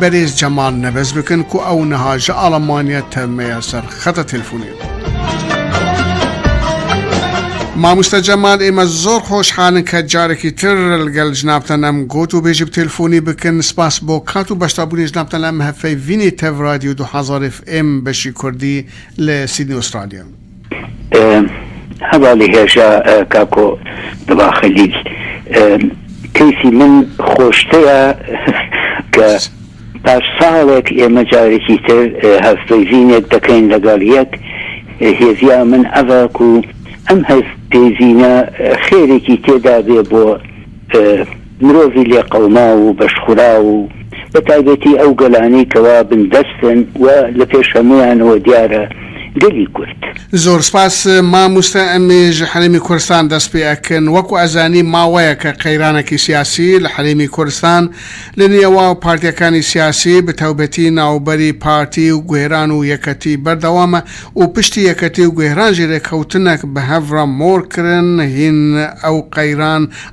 بەرێز جەمال نەبەز بکن کو ئەو نها ژە ئاڵەمانیە تە مەیە سەر خەتە تلفونێت. ماموستا جەمال ئێمە زۆر خۆشحالن کە جارێکی تر لگەل جنابتان ئەم گۆت و بێژی بتێلفۆنی بکن سپاس بۆ کات و بەشدا بونی جنابتان لە ئەم هەفەی ڤینی تەڤ رادیو دو هەزار ئێف ئێم بەشی کوردی لە سیدنی ئوسترالیا. هەڤاڵی هێژا کاکۆ دڵا خەلیل کەیسی من خۆشترە کە پاش ساڵێک ئێمە جارێکی تر هەڤپەیڤینێک دەکەین لەگەڵ یەک هێڤیا من ئەڤک و ئەم هەڤپەیڤینە خێرێکی تێدا بێ بۆ مرۆڤی لێقەوماو و بەشخوراو و بە تایبەتی ئەو گەلانەی کەوا بن دەستن و لە پێش هەموویانەوە دیارە گەلی کورد. زۆر سپاس ماموستا ئەمێژ حەرێمی کورستان دەست پێ ئەکن وەکو ئەزانی ماوەیەکە قەیرانەکی سیاسی لە حەرێمی کورستان لە نێواو پارتیەکانی سیاسی بتاوبەتی ناوبەری پارتی و گوهران و یەکەتی بەردەوامە و پشتی یەکەتی و گوهران ژێرێکەوتنەک بە هەڤرە مۆر کرن هین ئەو قەیران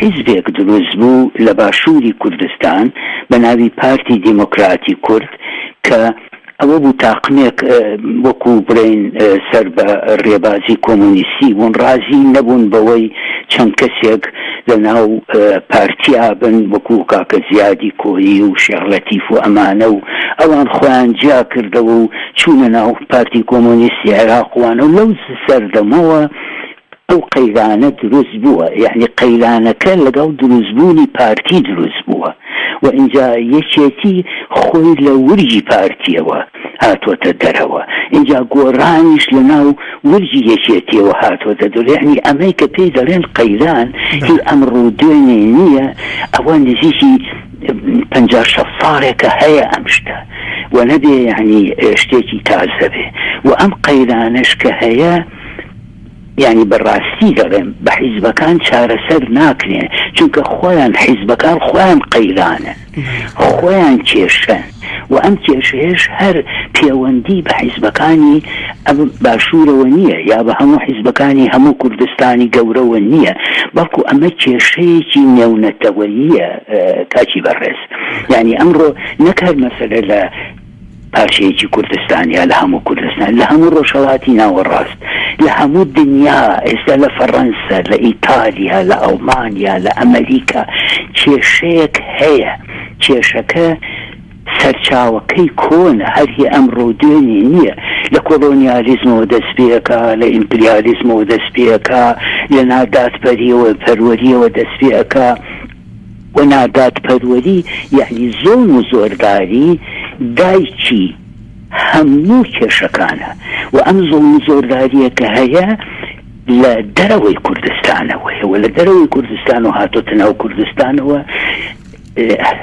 حیزبێک دروست بوو لە باشووری کوردستان بە ناوی پارتی دیمۆکراتی کورد کە ئەوە بوو تاقمێک وەکوو بڵێین سەر بە ڕێبازی کۆمۆنیستی بوون ڕازی نەبوون بەوەی چەند کەسێک لە ناو پارتیا بن وەکوو کاکە زیادی کۆیی و شێخ لەتیف و ئەمانە و ئەوان خۆیان جیا کردەوە و چوونە ناو پارتی کۆمۆنیستی عێراق وانە و لەو سەردەمەوە ئەو قەیرانە دروست بووە یەعنی قەیرانەکە لەگەڵ دروست بوونی پارتی دروست بووە و ئینجا یەکێتی خۆی لە ورگی پارتیەوە هاتۆتە دەرەوە ئینجا گۆڕانیش لە ناو ورگی یەکێتیەوە هاتۆتە دەرەوە یەعنی ئەمەی کە پێی دەڵێن قەیران هی ئەمڕۆ و دوێنێ نییە ئەوە نزیکی پەنجا شەست ساڵێکە هەیە ئەم شتە و نەبێ یەعنی شتێکی تازە بێ و ئەم قەیرانەش کە هەیە یانی بە ڕاستی دەڵێم بە حیزبەکان چارەسەر ناکرێن چونکە خۆیان حیزبەکان خۆیان قەیرانن خۆیان کێشەن و ئەم کێشەیەش هەر پێوەندی بە حیزبەکانی ئەم باشوورەوە نییە یا بە هەموو حیزبەکانی هەموو کوردستانی گەورەوە نییە بەڵکو ئەمە کێشەیەکی نێونەتەوەییە کاکی بەڕێز یانی ئەمڕۆ نەکار مەسەلە لە پارچەیەکی کوردستان یا لە هەموو کوردستان، لە هەموو ڕۆژهەڵاتی ناوەڕاست، لە هەموو دنیا، ئێستا لە فەڕەنسە، لە ئیتالیا، لە ئەڵمانیا، لە ئەمەریکا کێشەیەک هەیە، کێشەکە سەرچاوەکەی کۆنە، هەر هی ئەمڕۆ و دوێنێ نییە، لە کۆڵۆنیالیزمەوە دەست پێکا، لە ئیمپریالیزمەوە دەست پێکا، لە نادادپەروەرییەوە دەست پێکا، و نادادپەروەری یەعنی زوڵم و زۆرداری دایکی هەموو کێشەکانە و ئەم زوڵم و زۆرداریە کە هەیە لە دەرەوەی کوردستانەوەیە و لە دەرەوەی کوردستان و هاتۆتە ناو کوردستانەوە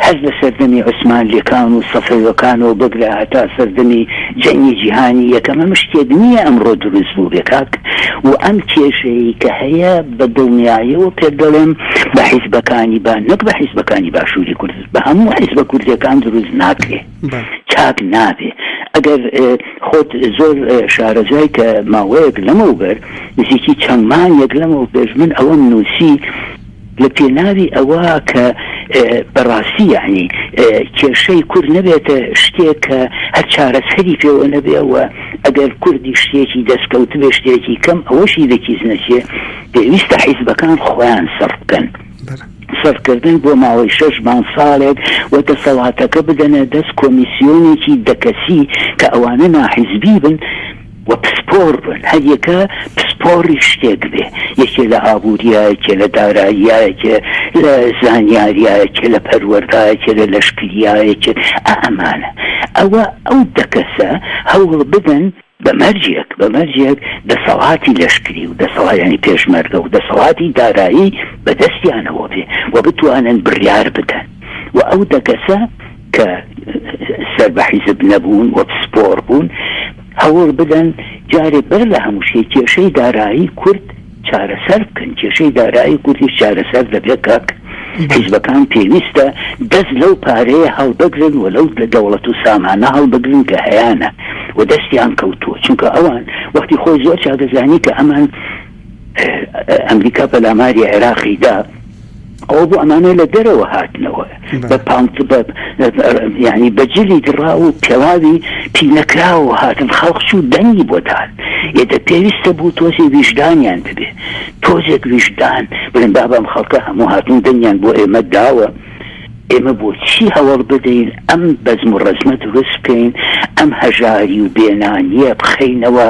هەر لە سەردەمی عوسمان لێکان و سەفەوەکانەوە بگرە هەتا سەردەمی جەنگی جیهانی یەکەمە مشتێک نییە ئەمڕۆ دروست بوو بێکاک و ئەم کێشەیە کە هەیە بە دڵنیایەوە پێت دەڵێم بە حیزبەکانی با نەک بە حیزبەکانی باشووری کورد بە هەموو حیزبە کوردیەکان دروست ناکرێ چاک نابێ ئەگەر خۆت زۆر شارەزای کە ماوەیەک لەمەو بەر نزیکی چەندمان یەک لەمەو پێش من ئەوەم نووسی لە پێناوی ئەوە کە بەڕاستی یعنی کێشەی کورد نەبێتە شتێک کە هەر چارەسەری پێوە نەبێەوە ئەگەر کوردی شتێکی دەستکەوتبێ شتێکی کەم ئەوەشی لەکیس نەچێ پێویستە حیزبەکان خۆیان سڕبکەن سڕکردن بۆ ماوەی شەش مانگ ساڵێک و دەسەڵاتەکە بدەنە دەست کۆمیسیۆنێکی دەکەسی کە ئەوانە ناحیزبی بن و پسپۆڕ بن هەریەکە پسپۆڕی شتێک بێ، یەکێ لە ئابوورییە، یەکێ لە داراییە، یەکێ لە زانیارییە، یەکێ لە پەروەردە، یەکێ لە لەشکرییە، یەکێ ئا ئەمانە. ئەوە ئەو دە کەسە هەوڵ بدەن بە مەرجێک، بە مەرجێک دەسەڵاتی لەشکری و دەسەڵا یانی پێشمەرگە و دەسەڵاتی دارایی بە دەستیانەوە بێ و بتوانن بڕیار بدەن و ئەو دە کەسە کە سەر بە حیزب نەبوون و پسپۆڕ بوون، هەوڵ بدەن جارێ بەر لە هەموو شتێ کێشەی دارایی کورد چارەسەر بکەن، کێشەی دارایی کوردیش چارەسەر دەبێ کاک، حیزبەکان پێویستە دەست لەو پارەیە هەڵبگرن و لەو دەوڵەت و سامانە هەڵبگرن کە هەیانە و دەستیان کەوتووە، چونکە ئەوان وەختی خۆی زۆر چاکدەزانی کە ئەمان، ئەمریکا پەلاماری عێراقی دا ئەو بۆ ئەمانە لە دەرەوە هاتنەوە بە پانت ینی بەجلی دڕا و پێڵاوی پینەکراوە هاتن خەڵق و دەنگی بۆ داات ئێدە پێویستە بوو تۆزی ویژدانیان دەبێ تۆزێک ویژدان بڵێن بابام خەڵکە هەموو هاتون دەنگیان بۆ ئێمە داوە ئێمە بۆ چی هەوڵ بدەین ئەم بەزم و ڕزمە دروست بکەین ئەم هەژاری و بێنانیە بخینەوە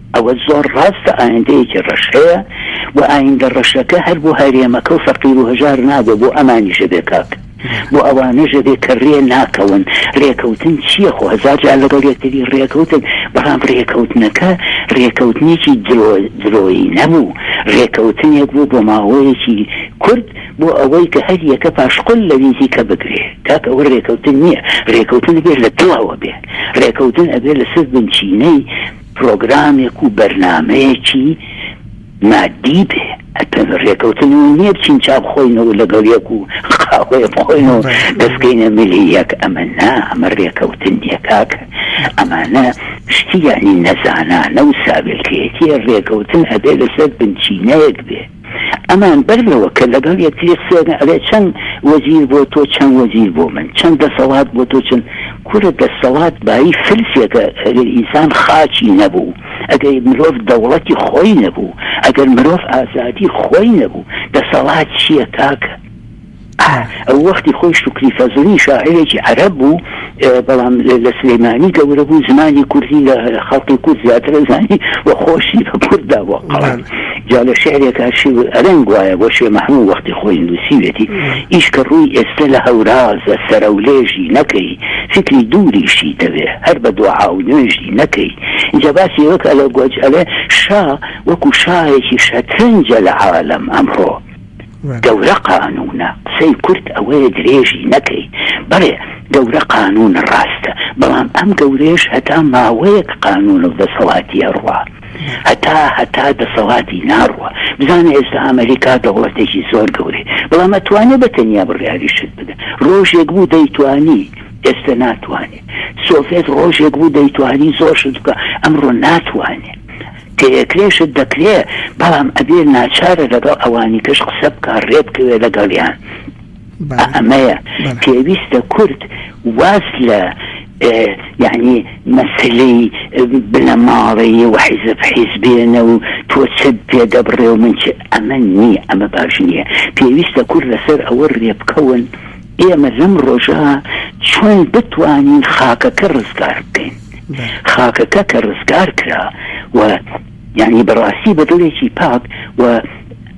ئەوە زۆر ڕاستە ئایندەیەکی ڕەش هەیە و ئایندە ڕەشەکە هەر بۆ هەرێمەکە و فەقیر و هەژار نابێ بۆ ئەمانیش ئەبێ کاک بۆ ئەوانەش ئەبێ کە رێ ناکەون رێکەوتن چییە خۆ هەزار جار لەگەڵ یەکتری رێکەوتن بەڵام رێکەوتنەکە رێکەوتنێکی درۆ درۆیی نەبوو رێکەوتنێک بوو بۆ ماوەیەکی کورد بۆ ئەوەی کە هەر یەکە پاشقل لە ویزی کە بگرێ کاک ئەوە رێکەوتن نییە رێکەوتن بێت لە دڵەوە بێ رێکەوتن ئەبێ لەسەر بنچینەی پرۆگرامێک و بەرنامەیەکی مادی بێ ئەتە رێکەوتنەوە نییە بچین چا بخۆینەوە لەگەڵ یەک و قاوەیە بخۆینەوە دەستکەینە ملی یەک ئەمە نا ئەمە رێکەوتن نیە کاکە ئەمانە شتیانی نەزانانە و ساویلکەیەتیە رێکەوتن ئەبێ لەسەر بنچینەیەک بێ ئەمان بەر لەوە کە لەگەڵ یەکتری قسە بکەن ئەڵێ چەند وەزیر بۆ تۆ چەند وەزیر بۆ من چەند دەسەڵات بۆ تۆ چەند کورە دەسەڵات بایی فلسێکە ئەگەر ئینسان خاچی نەبوو ئەگەر مرۆڤ دەوڵەتی خۆی نەبوو ئەگەر مرۆڤ ئازادی خۆی نەبوو دەسەڵات چییە کاکە ئەو وەختی خۆی شوکری فەزڵی شاعیرێکی عەرەب بوو بەڵام لە سلێمانی گەورە بوو زمانی کوردی لە خەڵقی کورد زیاتر ئەزانی و خۆشی بە کورددا بۆ قەڵام جا لە شعرێکا شێو ئەرەنگ وایە بۆ شێ مەحموو وەختی خۆی نووسیوێتی ئیش کە ڕووی ئێستا لە هەورازە سەرەولێژی نەکەی فکری دووریشی دەوێ هەر بە دوعا و نوێژی نەکەی جا باسی ئەوەکە لە گۆج ئەلێ شا وەکو شایەکی شەترەنجە لە عالەم ئەمڕۆ گەورە قانونە قسەی کورت ئەوەیە درێژی نەکەی بەڵێ گەورە قانونە ڕاستە بەڵام ئەم گەورەیەش هەتا ماوەیەک قانون و دەسەڵاتی ئەڕوا هەتا هەتا دەسەڵاتی ناڕوا بزانە ئێستا ئەمەریکا دەوڵەتێکی زۆر گەورەی بەڵام ئەتوانێ بە تەنیا بڕیاری شت بدە ڕۆژێک بوو دەیتوانی ئێستا ناتوانێ سۆڤێت ڕۆژێک بوو دەیتوانی زۆر شت بکە ئەمڕۆ ناتوانێ تێکرێشت دەکرێ بەڵام ئەبێ ناچارە لەگەڵ ئەوانیکەش قسە بکا ڕێ بکەوێ لەگەڵیان بەڵێ ئەمەیە بەڵێ پێویستە کورد واز لە یانی مەسەلەی بنەماڵەیی و حیزب حیز بێنە و تۆ چت پێ دەبڕێ و من چ ئەمە نییە ئەمە باش نییە پێویستە کورد لەسەر ئەوە ڕێ بکەون ئێمە لەم ڕۆژە چۆن بتوانین خاکەکە ڕزگار بکەین. خاکەکە کە ڕزگار کرا و یعنی بەڕاستی بە دڵێکی پاک و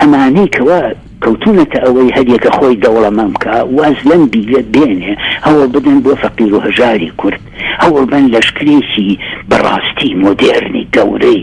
ئەمانەی کەوا کەوتونەتە ئەوەی هەریەکە خۆی دەوڵەمەن بکا واز لەم بیرە بێنێ هەوڵ بدەن بۆ فەقیر و هەژاری کورد هەوڵ بەن لەشکرێکی بەڕاستی مۆدێرنی گەورەی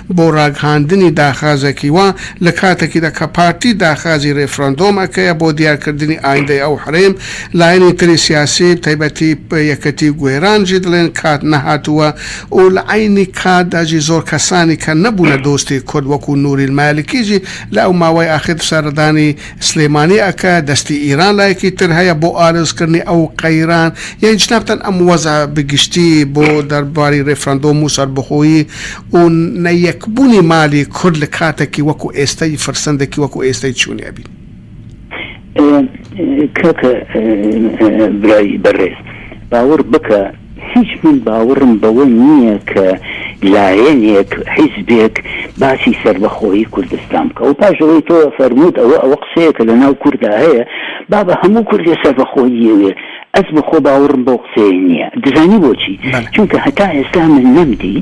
بۆ ڕاگهاندنی داخازێکی وا لە کاتێکیدا کە پارتی داخازی ڕیفراندۆم ئەکەیە بۆ دیار کردنی ئایندەی ئەو حریم لایەنی تری سیاسی تایبەتی یەکەتی گوێران ژی دڵێن کات نەهاتووە و لە عەینی کاتدا ژی زۆر کەسانی کە نەبوونە دۆستی کورد وەکوو نووریل مالکی ژی لە ئەو ماوەی ئاخیر سەردانی سلێمانی ئەکە دەستی ئیران لایەکی تر هەیە بۆ ئالۆز کردنی ئەو قەیران یەی جنابتان ئەم وەزعە بگشتی بۆ دەرباری ڕیفراندۆم و سەربەخۆیی و نە یەک بونی مالی کورد لە کاتەکی وەکو ئێستە ی فرسەندەکی وەکو ئێستە ی چونی ئەبین. کاکە برای بەڕێز باوەڕ بکە هیچ من باوەڕم بەوە نییە کە لایەنێک حیزبێک باسی سەربەخۆیی کوردستان بکا و پاش ئەوەی تۆ فەرمووت ئەوە ئەوە قسەیەکە لە ناو کوردا هەیە بابە هەموو کوردێ سەربەخۆیی یەوێ ئەز بەخۆ باوڕم بەو قسەیە نیە دزانی بۆچی چونکە هەتا ئێستا من نەم دی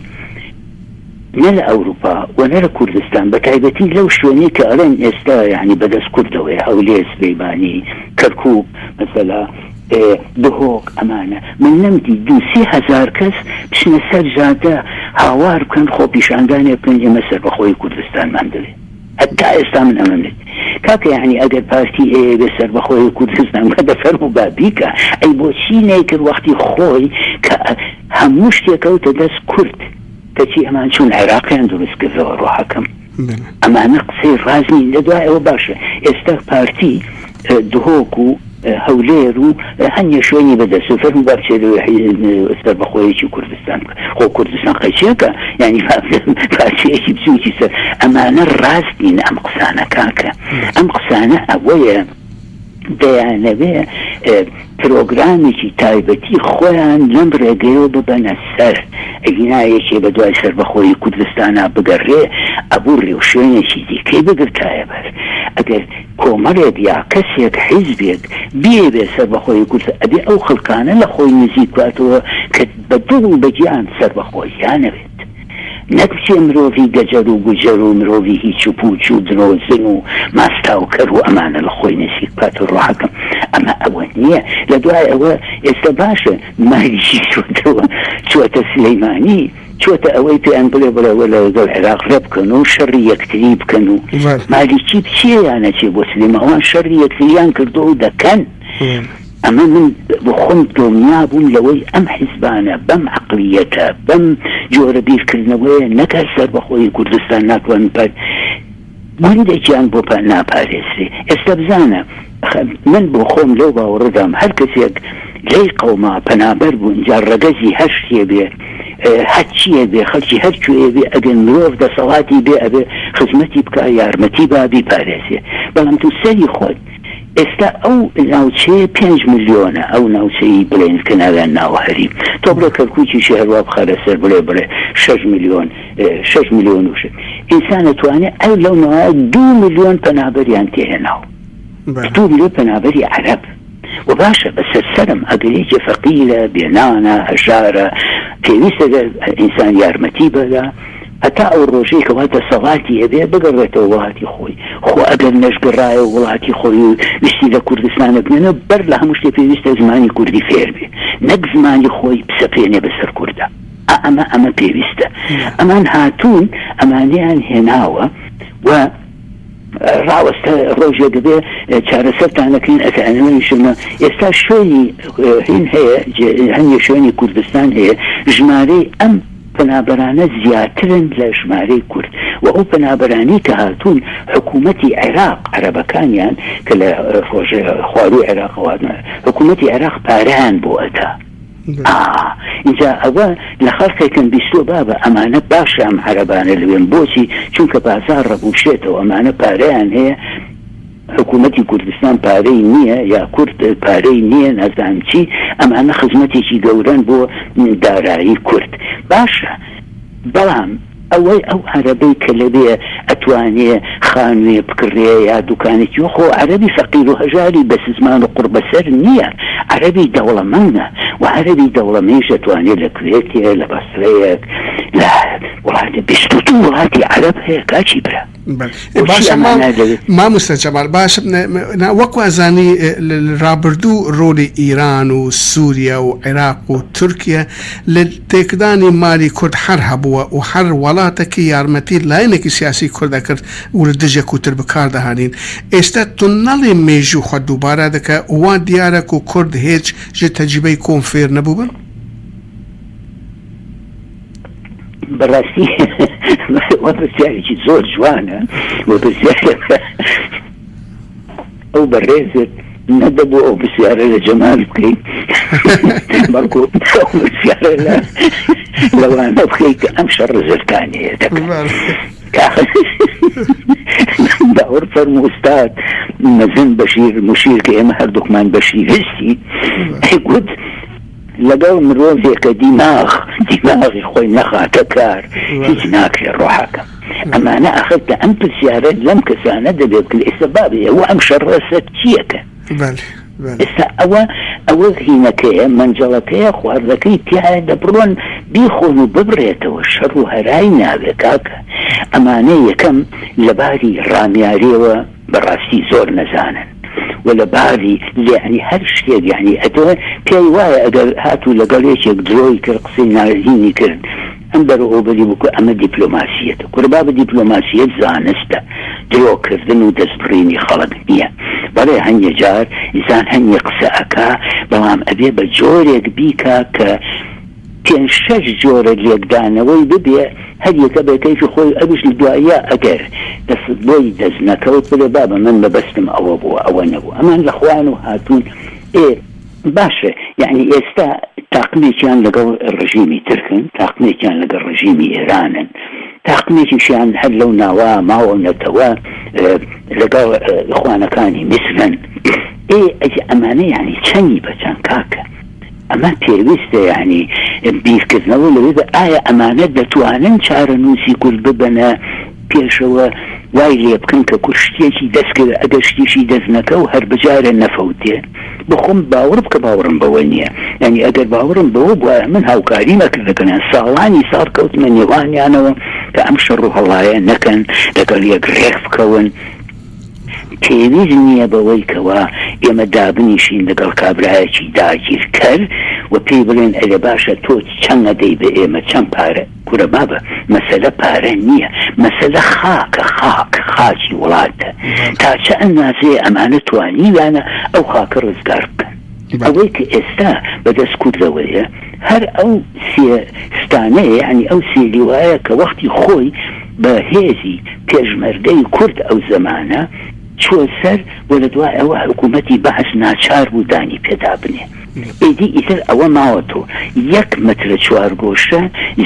نە لە ئەوروپا وە نە لە کوردستان بە تایبەتی لەو شوێنەی کە ئەڵێن ئێستا یانی بەدەس کوردەوەیە هەولێر سلیمانی کەرکوک مەسەلا دهۆک ئەمانە من نەم دی دوو سی هەزار کەس بچنە سەر جادە هاوار بکەن خۆپیشاندانێ بکەن ئێمە سەربەخۆی کوردستانمان دەوێ. هەتا ئێستا من ئەمەم وت کاکە یەعنی ئەگەر پارتی هەیە بێ سەربەخۆ هەیە کوردستان بکە دە فەرموو با بیکا ئەی بۆچی نەیکرد وەختی خۆی کە هەموو شتێ کەوتە دەست کورد کەچی ئەمان چوون عێراقیان دروست کردەوە ڕۆحەکەم ئەمانە قسەی ڕاست نین لە دوای ئەوە باشە ئێستا پارتی دهۆک و هەولێر و هەنێ شوێنی بەدەست و فەرمو با بچێت سەربەخۆیەکی کوردستان بکە خۆ کوردستان قەیچەکە ینی پارچەیەکی بچوکی سەر ئەمانە ڕاست نین ئەم قسانە کاکە ئەم قسانە ئەوەیە دەیانەوێ پرۆگرامێکی تایبەتی خۆیان لەم ڕێگەیەوە ببەنە سەر ئەگینا یەکێ بە دوای سربەخۆی کوردستانە بگەڕێ ئەبوو ڕێوشوێنێکی دیکەی بگرتایە بەر ئەگەر کۆمەلێک یا کەسێک حیزبێک بیەوێت سەربەخۆیی کورد ئەبێ ئەو خەلکانە لە خۆی نزیک کاتەوە کە بە دڵ و بە گیان سەربەخۆییان ئەوێت نەک بچێ مرۆڤی گەجەر و گوجەر و مرۆڤی هیچ و پوچ و درۆزن و ماستاو کەر و ئەمانە لە خۆی نزیک بکات و ڕاکەم ئەمە ئەوە نیە لە دوای ئەوە ئێستا باشە مالیشی چۆتەوە چۆتە سلیمانی چۆتە ئەوەی پێیان بڵێ بڵێ وەلا لەگەڵ عێراق ڕێبکەن و شەڕی یەکتری بکەن و مالیکی بچێ یان نەچێ بۆ سلێمە ئەوان شەڕی یەکتریان کردو و دەکەن ئەمە من بۆ خۆم دڵنیا بووم لەوەی ئەم حیزبانە بەم عەقڵیەتە بەم جۆرە بیرکردنەوەیە نەکای سەربەخۆیی کوردستان ناتوانن پارت مندێکیان بۆ ناپارێزرێ. ئێستا بزانە، من بۆ خۆم لەو باوەڕەدام هەر کەسێک لەی قەوما پەنابەر بوون، جا ڕەگەزی هەر شتێ بێ، هەر چییەک بێ، خەڵکی هەر کوێیە بێ، ئەگەر مرۆڤ دەسەڵاتی بێ ئەبێ خزمەتی بکا، یارمەتی با، بیپارێزێ. بەڵام تۆ سەری خۆت، ئێستا ئەو ناوچەیە پێنج ملیۆنە، ئەو ناوچەی بڵێین کە ناویان ناوە هەریم، تۆ بڵێ کەرکووکیشی هەروا بخە لەسەر بڵێ بڵێ شەش ملیۆن، شەش ملیۆن و شت ئینسان ئەتوانێت ئەو لەو نەوایە دو ملیۆن پەنابەریان تێهێناو دو ملیۆن پەنابەری عەرەب و باشە بە سەرسەرم ئەگەر یەکێ فەقیرە بێنانە هەژارە پێویستە گەر ئینسان یارمەتی بەدا هەتا ئەو ڕۆژەی کەوا دەسەڵاتی هەبێ بگەڕێتەوە وڵاتی خۆی خۆ ئەگەر نەشگەڕایە وڵاتی خۆی و ویستی لە کوردستانە بنێنە بەر لە هەموو شتێ پێویستە زمانی کوردی فێربێ نەک زمانی خۆی بسەپێنێ بەسەر کوردە ئا ئەمە ئەمە پێویستە ئەمان هاتوون ئەمانیان هێناوە و ڕاوەستە ڕۆژێ دەبێ چارەسەرتانەکەین ئەتەنەوەیشمە ئێستا شوێنی هین هەیە هەنیە شوێنی کوردستان هەیە ژمارەی ئەم پەنابەرانە زیاترن لە ژمارەی کورد و ئەو پەنابەرانی کە هاتوون حکوومەتی عێراق عەرەبەکانیان کە لە ڕۆژێ خواروی عێراقواتە حکوومەتی عێراق پاریان بۆ ئەتا ئا ئینجا ئەوە لە خەڵقێکم بیستوە بابە ئەمانە باشە ئەم عەرەبانە لەوێن بۆچی چونکە بازاڕ ڕەبوشێتەوە ئەمانە پارەیان هەیە حکومەتی کوردستان پارەی نییە یا کورد پارەی نییە نازانم چی ئەمانە خزمەتێکی گەورەن بۆ دارایی کورد باشە بەڵام ئەوەی ئەو عەرەبەی کە لەوێ ئەتوانێ خانووێ بکڕێ یا دوکانێکی خۆ عەرەبی فەقیر و هەژاری بەسزمان و قوڕبەسەر نییە عەرەبی دەوڵەمەندە و عەرەبی دەوڵەمەیش ئەتوانێ لە کوێتێ لە بەسرەیەک لە وڵاتێ بیست و دوو وڵاتی عەرەب هەیە کاکی برا. ماموستا جەمال باش وەکوازانی رابردوو ڕۆلی ئیران و سووریا و عێراق و تورکیا لە تێکدانی مالی کورد هەر هەبووە و هەر وڵاتەکی یارمەتی لاینێکی سیاسی کورد دەکرد ورە دژە کوتر بکاردەهانین ئێستا تونەڵی مێژوو خە دووبارە دەکە وا دیارەک و کورد هێچ ژ تەجیبەی کۆم فێر نەبووبن؟ بەڕاستی وەپرسیارێکی زۆر جوانە وەپرسیارە ئەو بەڕێزت نەدەبوو ئەو پرسیارە لە جەمال بکەیت بەڵکو لەوانە بکەیت کە ئەم شەڕ زرکانەیە باوەڕ فەرم ئوستاد مەزن بەشیر مشیر کە ئێمە هەردووکمان بەشی هستی گوت لەگەڵ مرۆڤێکە دیماغ دیماغی خۆی نەخاتە کار هیچ ناکرێ ڕۆحەکەم ئەمانە ئەخر کە ئەم پرسیارە لەم کەسانە دەبێ بکرێ ئێستا بابێ ئەوە ئەم شەڕە سەر چییەکە ئێستا ئەوە ئەوە زینەکەیە مەنجەڵەکەیە خواردەکەی تایە دەبڕۆن بیخۆن و ببرێتەوە شەڕ و هەرای ناوێ کاکە ئەمانە یەکەم لەباری ڕامیارەوە بەڕاستی زۆر نەزانن و لە بازی یەعنی هەر شتێک یەعنی ئەتوێ پێی وایە ئەگەر هاتوو لەگەڵ یەکێک درۆی کرد قسەی ناوێژینی کرد ئەم بەرۆوبەری بکو ئەمە دیپلۆماسیەتە کورە بابە دیپلۆماسیەت زانستە درۆ کردن و دەست بڕینی خەڵک نیە بەڵێ هەنێ جار ئینسان هەنێ قسە ئەکا بەڵام ئەبێ بە جۆرێک بیکا کە پێنج شەش جۆرە لێکدانەوەی ببێ هەر یەکە بە کەیفی خۆی ئەویش لە دواییا ئەگەر دەست بۆی دەست نەکەوت بڵێ بابە من مەبەستم ئەوە بووە ئەوە نەبوو ئەمان لە خوان و هاتوون ئێ باشە یەعنی ئێستا تاقمێکیان لەگەڵ ڕژیمی ترکن تاقمێکیان لەگەڵ ڕژیمی ئێرانن تاقمێکیشیان هەر لەو ناوە ماوە نەتەوە لەگەڵ ئیخوانەکانی میسرن ئێ ئەمانە یەعنی چەنی بە چەن کاکە. ئەمە پێویستە یانی بیرکردنەوە لەوێدا ئایا ئەمانە دەتوانن چارەنووسی کورد ببەنە پێشەوە وای لێ بکەن کە کورد شتێکی دەست کرد ئەگەر شتیشی دەست نەکە و هەر بجارێ نەفەوتێ بخۆم باوەڕ بکە باوەڕم بەوە نییە یعنی ئەگەر باوەڕم بەوە بواە من هاوکاری نەکردەکەنیان ساڵانی ساڵ کەوتمە نێوانیانەوە کە ئەم شەڕ و هەڵایە نەکەن لەگەڵ یەک ڕێک بکەون پێویست نییە بەوەی کەوا ئێمە دابنیشین لەگەڵ کابرایەکی داگیرکەر و پێی بڵێن ئەرێ باشە تۆ چەند ئەدەی بە ئێمە چەند پارە کورە بابە مەسەلە پارە نییە مەسەلە خاکە خاک خاکی وڵاتە تا چە ئەندازەیە ئەمانە توانیویانە ئەو خاکە ڕزگار بکەن. ئەوەی کە ئێستا بە دەست کوردەوەیە هەر ئەو سێ ستانەیە، یانی ئەو سێ لیوایە کە وەختی خۆی بە هێزی پێشمەرگەی کورد ئەو زەمانە چووە سەر و لە دوای ئەوە حکوومەتی بەعس ناچار بوو دانی پێ دا بنێ. ئیدی ئیتر ئەوە ماوەتەوە یەک مەترە چوارگۆشە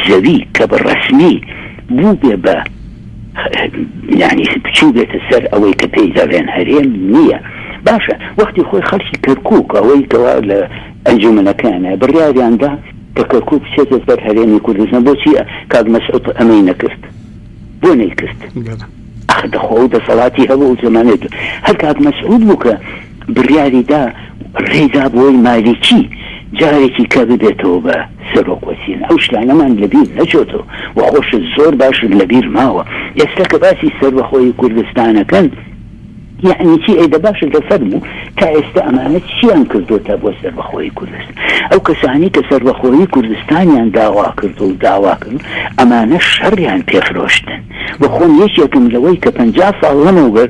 زەوی کە بە ڕەسمی بووبێ بە. یانی بچوو بێتە سەر ئەوەی کە پێی دەڵێن هەرێم نییە باشە وەختی خۆی خەڵکی کەرکک ئەوەی کەوا لە ئەنجومەنەکەیانە بڕیاریاندا کە کەرکک بچێتە سەر هەرێمی کوردستان بۆچی کاک مەسعود ئەمەی نەکرد بۆ نەیکرد دەخۆ و دەسەڵاتی هەبوو زمانێت هەر کاک مەسعود بوو کە بڕیاری دا ڕێی دا بۆی مالیکی جارێکی کە ببێتەوە بە سەرۆک وەزیران ئەو شتانەمان لە بیر نەچۆتەوە و خۆشت زۆر باشت لە بیر ماوە ئێستا کە باسی سەربەخۆیی کوردستان ئەکەن یەعنی چی ئەی دە باشە دە فەرموو تا ئێستا ئەمانە چیان کردۆتە بۆ سەربەخۆیی کوردستان ئەو کەسانی کە سەربەخۆیی کوردستانیان داوا کرد و داوا کرد ئەمانە شەڕیان پێفرۆشتن بۆ خۆم یەکێکم لەوەی کە پەنجا ساڵ لەمەوبەر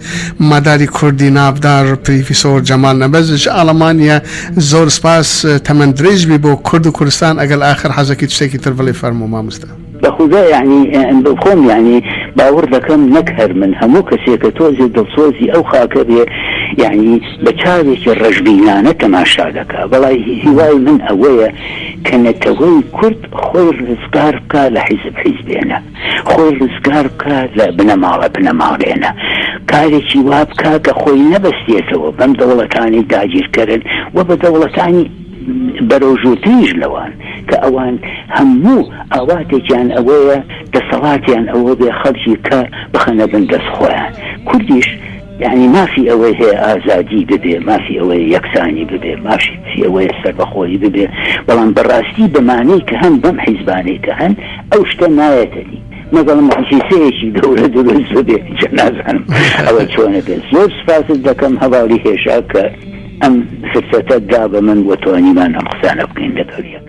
ماداری کوردی ناڤدار پریفیسۆر جەمال نەبەز ژە ئاڵەمانیە زۆر سپاس تەمەن درێژ بی بۆ کورد و کوردستان ئەگەل ئاخر حەزەکی چتێکی تر بڵی فەرموو ماموستا. بە خودا یەعنی خۆم یەعنی باوڕ دەکەم نەک هەر من هەموو کەسێ کە تۆزێ دڵسۆزی ئەو خاکە بێ یەعنی بە چاوێکی ڕەشبینانە تەماشا دەکا بەڵای هیوای من ئەوەیە کە نەتەوەی کورد خۆی ڕزگار بکا لە حیزب حیزبێنە خۆی ڕزگار بکا لە بنەماڵە بنەماڵەیەنا کارێکی وا بکا کە خۆی نەبەستێتەوە بەم دەوڵەتانەی داگیرکەرن و بە دەوڵەتانی بەرەوژوورتریش لەوان کە ئەوان هەموو ئاواتێکیان ئەوەیە دەسەڵاتیان ئەوەبێ خەڵکی کە بخەنە بن دەست خۆیان کوردیش یانی مافی ئەوەی هەیە ئازادی ببێ، مافی ئەوەیە یەکسانی ببێ، مافی ئەوەیە سەربەخۆیی ببێ، بەڵام بە ڕاستی بە مانەی کە هەم بەم حیزبانەی کە هەن ئەو شتە نایەتە دی، مەگەڵ موعجیزەیەکی گەورە دروست ببێ، جا نازانم ئەوە چۆنە بێ. زۆر سوپاست دەکەم هەڤاڵی هێژا کە ئەم فرسەتەت دا بە من و توانیمان ئەم قسانە بکەین لەگەڵ یەک.